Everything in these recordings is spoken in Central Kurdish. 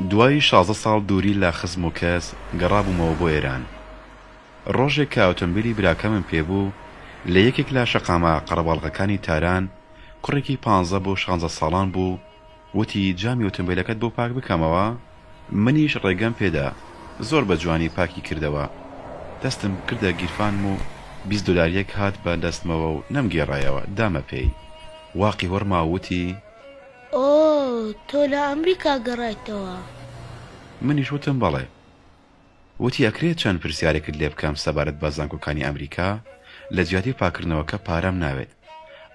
دوای شازدە ساڵ دووری لە خزم و کەس، گەڕابوومەوە بۆ ئێران. ڕۆژێک کە ئۆتۆمبیلی براکەمم پێ بوو، لە یەکێک لە شەقامە قەرەباڵغەکانی تاران، کوڕێکی پانزە بۆ شانزە ساڵان بوو، وتی، جامی ئۆتۆمبێلەکەت بۆ پاک بکەمەوە؟ منیش ڕێگەم پێ دا. زۆر بە جوانی پاکی کردەوە. دەستم کردە گیرفانم و بیست دۆلارییەک هات بە دەستمەوە و نەمگێڕایەوە، دامە پێی. واقی وەڕما و وتی. ئۆۆ، تۆ لە ئەمریکا گەڕایتەوە؟ منیش وتم، بەڵێ. وتی ئەکرێت چەند پرسیارێکت لێ بکەم سەبارەت بە زانکۆکانی ئەمریکا؟ لە جیاتی پاککردنەوەکە پارەم ناوێت.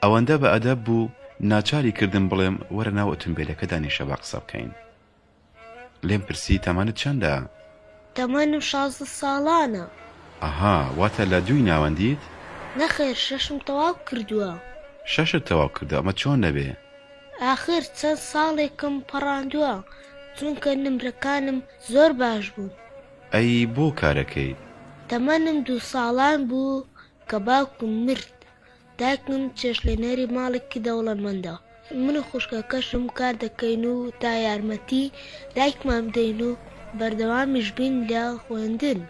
ئەوەندە بە ئەدەب بوو ناچاری کردم بڵێم وەرە ناو ئۆتومبێلەکە دانیشە با قسە بکەین. لێم پرسی تەمەنت چەندە؟ تەمەنم شازدە ساڵانە. ئەها واتە لە دووی ناوەندیت؟ نەخێر شەشم تەواو کردووە. شەشت تەواو کردووە ئەمە چۆن دەبێ؟ ئاخر چەند ساڵێکم پەڕاندووە چونکە نمرەکانم زۆر باش بووم. ئەی بۆ کارەکەی؟ تەمەنم دوو ساڵان بوو کە باوکم مرد، دایکم چێشتلێنەری ماڵێکی دەوڵەمەندە، من و خوشکەکەشم کار دەکەین و تا یارمەتی دایکمان بدەین و بەردەوامیش بین لە خوێندن.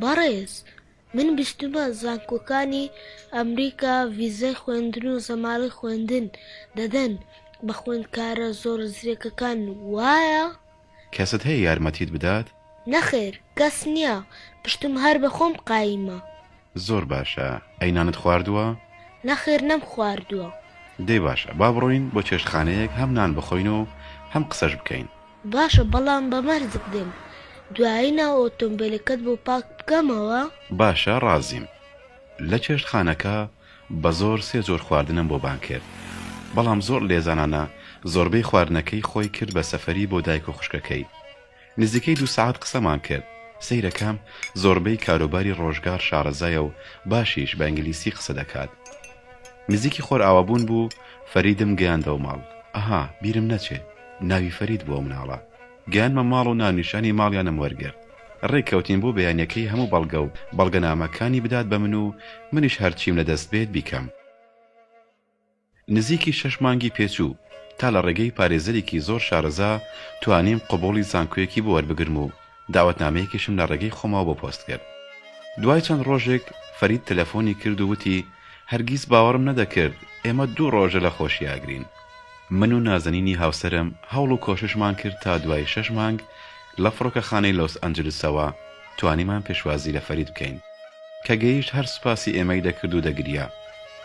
بەڕێز. من بیستومە زانکۆکانی ئەمریکا ڤیزای خوێندن و زەمالەی خوێندن دەدەن بە خوێندکارە زۆر زرێکەکان وایە؟ کەست هەیە یارمەتیت بدات؟ نەخێر کەس نیە پشتم هەر بە خۆم قایمە. زۆر باشە ئەی نانت خواردوە؟ نەخێر نەم خواردوە. دەی باشە با بڕۆین بۆ چێشتخانەیەک هەم نان بخۆین و هەم قسەش بکەین. باشە بەڵام بە مەرجک دێم دوایی ناو ئۆتۆمبێلەکەت بۆ پاک بکەمەوە؟ باشە ڕازیم. لە چێشتخانەکە بە زۆر سێ جۆر خواردنم بۆ بانگ کرد بەڵام زۆر لێزانانە زۆربەی خواردنەکەی خۆی کرد بە سەفەری بۆ دایک و خوشکەکەی. نزیکەی دوو سەعات قسەمان کرد سەیرەکەم زۆربەی کاروباری ڕۆژگار شارەزایە و باشیش بە ئینگلیسی قسە دەکات. نزیکی خۆرئاوابوون بوو فەریدم گەیاندەوە ماڵ. ئەها بیرم نەچێ. ناوی فەرید بوو ئەو مناڵە. گەیانمە ماڵ و ناونیشانی ماڵیانم وەرگرت. ڕێک کەوتین بۆ بەیانیەکەی هەموو بەڵگە و بەڵگەنامەکانی بدات بە من و منیش هەرچیم لە دەست بێت بیکەم. نزیکی شەش مانگی پێ چوو تا لە ڕێگەی پارێزەرێکی زۆر شارەزا توانیم قبوڵی زانکۆیەکی بۆ وەربگرم و داوەتنامەیەکیشم لە ڕێگەی خۆمەوە بۆ پۆست کرد. دوای چەند ڕۆژێک فەرید تەلەفۆنی کرد و وتی هەرگیز باوەڕم نەدەکرد ئێمە دوو ڕۆژە لە خۆشی ئاگرین. من و نازەنینی هاوسەرم هەوڵ و کۆششمان کرد تا دوای شەش مانگ لە فڕۆکەخانەی لۆس ئەنجلسەوە توانیمان پێشوازی لە فەرید بکەین. کە گەیشت هەر سوپاسی ئێمەی دەکرد و دەگریا.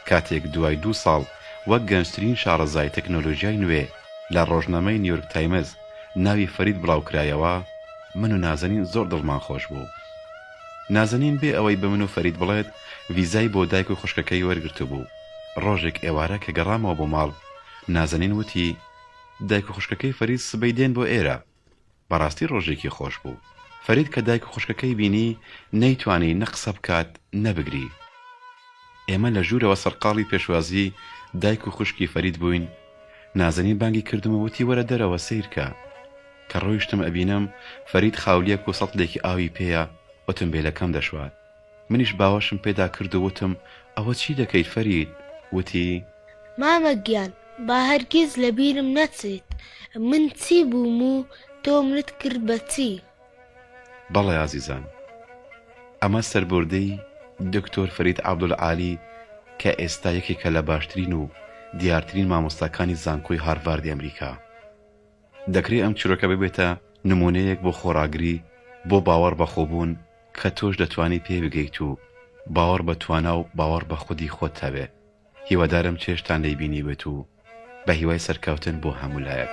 کاتێک دوای دوو ساڵ وەک گەنجترین شاڕەزای تەکنۆلۆژیای نوێ لە ڕۆژنامەی نیویۆرک تایمز ناوی فەرید بڵاوکرایەوە، من و نازەنین زۆر دڵمان خۆش بوو. نازەنین بێ ئەوەی بە من و فەرید بڵێت ڤیزای بۆ دایک و خوشکەکەی وەرگرتبوو. ڕۆژێک ئێوارە کە گەڕامەوە بۆ ماڵ، نازەنین وتی، دایک و خوشکەکەی فەرید سبەی دێن بۆ ئێرە. بەڕاستی ڕۆژێکی خۆش بوو. فەرید کە دایک و خوشکەکەی بینی، نەیتوانی نە قسە بکات، نە بگری. ئێمە لە ژوورەوە سەرقاڵی پێشوازیی دایک و خوشکی فەرید بووین، نازەنین بانگی کردم و وتی وەرە دەرەوە سەیر کە. کە ڕۆیشتم ئەبینم فەرید خاولییەک و سەتڵێکی ئاوی پێیە، ئۆتۆمبێلەکەم دەشوات. منیش باوەشم پێدا کرد و وتم، ئەوە چی دەکەیت فەرید؟ وتی. مامە گیان با هەرگیز لە بیرم نەچێت من چی بووم و تۆ منت کرد بە چی؟ بەڵێ ئازیزان، ئەمە سەربووردەی دکتۆر فەرید عەبدولعالی کە ئێستا یەکێکە لە باشترین و دیارترین مامۆستاکانی زانکۆی هارڤاردی ئەمریکا. دەکرێ ئەم چیرۆکە ببێتە نموونەیەک بۆ خۆڕاگری، بۆ باوەڕ بەخۆبوون، کە تۆش دەتوانی پێی بگەیت و باوەڕ بە توانا و باوەڕ بە خودی خۆت هەبێ هیوادارم چێژتان لێی بینیبێت و بە هیوای سەرکەوتن بۆ هەموو لایەک.